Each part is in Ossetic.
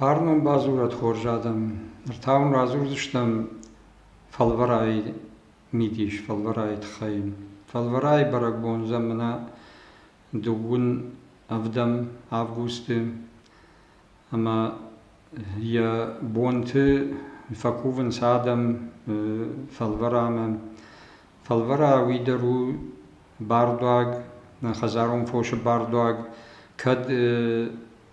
Фарн уын бадзурӕд хорз адӕм, ныр та уын радзурдзыстӕм фӕлвӕрайы мидис, фӕлвӕрайы тыххӕй. Фӕлвӕрайы бӕрӕгбон зӕмынӕ дыууын ӕвдӕм августы ӕмӕ йӕ бонты фӕкувынц адӕм фӕлвӕрамӕ. Фӕлвӕра уый дӕр у бардуаг, нӕ хӕдзарон фосы бардуаг, кӕд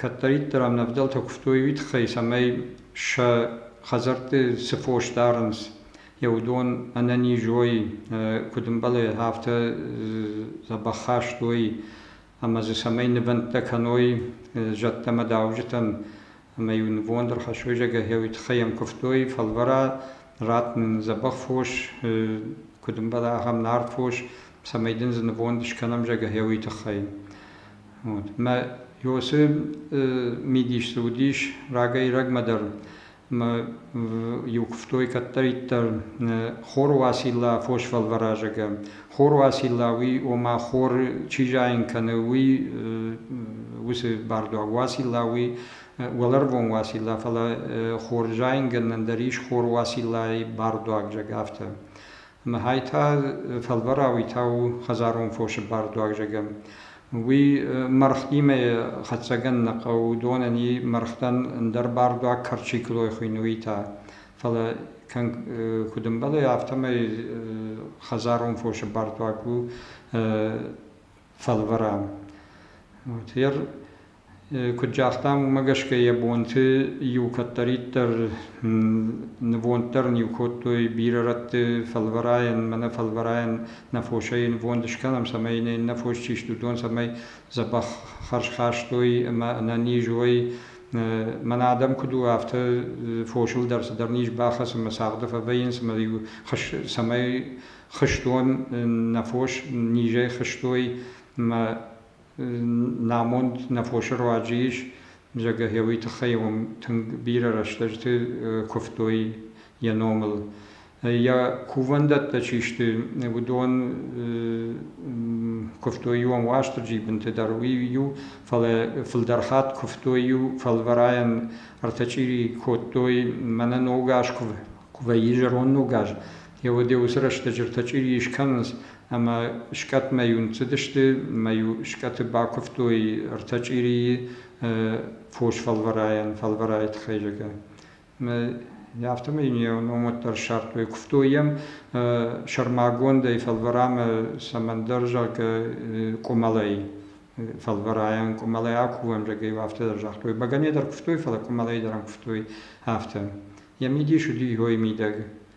Кӕддӕриддӕр ӕмнӕвдӕлтӕ куывтой уый тыххӕй, цӕмӕй сӕ хӕдзӕртты цы фос дарынц, йӕ уыдон ӕнӕниз уой, куыд ӕмбӕлы, афтӕ дзӕбӕх хаст уой ӕмӕ дзы цӕмӕй нывӕндтӕ кӕной зӕдтӕм ӕмӕ дауджытӕм. Ӕмӕ-иу нывонд ӕрхӕссой зӕгӕ, уый тыххӕй йӕм куывтой фӕлвӕра, ратт нын дзӕбӕх фос, куыд ӕмбӕлы, ахӕм нард фос, цӕмӕй дын дзы нывонд скӕнӕм, зӕгӕ, уый тыххӕй. Мӕ ёсе мидисты уыдис рагӕй-рагмӕ дӕр ӕмӕ иугуывтой кӕддӕриддӕр хоры Уацилла фосфӕлвӕразӕгӕ. Хоры Уацилла уый, ома хоры чи зайын кӕны, уый уыцы бардуаг Уацилла уый уӕлӕрвон Уацилла, фӕлӕ хор зайынгӕнӕн дӕр ис хор Уациллайы бардуаг, зӕгъ афтӕ. Махӕй та фӕлварауи та у хӕдзарон фосы бардуагзагӕн. Уый мӕргътимӕ хӕццӕгӕн нӕ хъӕуы, уыдонӕн и мӕргътӕн ӕндӕр бардуаг кӕрчиклой хуыйной та. Фӕлӕ куыд ӕмбӕлы, афтӕмӕй хӕдзарон фосы бардуаг у фӕлварӕн. Гӕр Куыд загътам, уымӕ гӕсгӕ йӕ бонты иу кӕддӕриддӕр нывонд дӕр ын иу кодтой бирӕ рӕтты фӕлвӕрайӕн, мӕнӕ фӕлвӕрайӕн нӕ фосӕй нывонд скӕнӕм, цӕмӕй йын иннӕ фос чи сты, уыдон цӕмӕй дзӕбӕх хӕрз хастой ӕмӕ ӕнӕниз уой. Мӕнӕ адӕм куыд у, афтӕ фосыл дӕр цыдӕр низ бахӕцы ӕмӕ цагъды фӕвӕййынц ӕмӕ иу цӕмӕй хызтон нӕ фос низӕй хызтой ӕмӕ намонд нӕ фосы руаджы ис, зӕггӕ гъеуый тыххӕй уым тынг бирӕ рӕстӕжты куывтой йӕ номыл. Йӕ кувӕндӕттӕ чи сты, уыдон куывтой иу Уастырджи бынты дӕр, уый иу, фӕлӕ фылдӕр хатт куывтой иу фӕлвӕрайӕн ӕртӕ чъири кодтой мӕнӕ ногаз куы вӕййы зӕронд ногаз, Йе уӕде уыцы рӕстӕджытӕ чъири скӕнынц ӕмӕ скъӕтмӕ-иу ныццыдысты мӕ-иу скъӕты бакуывтой ӕртӕ чъирийы фос фӕлвӕрайӕн, фӕлвӕрайы тыххӕй зӕгъгӕ. Афтӕмӕй ном уӕддӕр ссардтой. Куывтой йӕм сӕрмагондӕй фӕлвӕрамӕ цӕмӕндӕр зӕгъгӕ къуымӕлӕй. Фӕлвӕрайӕн къуымӕлӕй акувӕм, зӕгъгӕ-иу афтӕ дӕр загътой. Бӕгӕныйӕ дӕр куывтой, фӕлӕ къуымӕлӕй дӕр ӕм куывтой. Йӕ мидис уыди иуӕй мидӕг.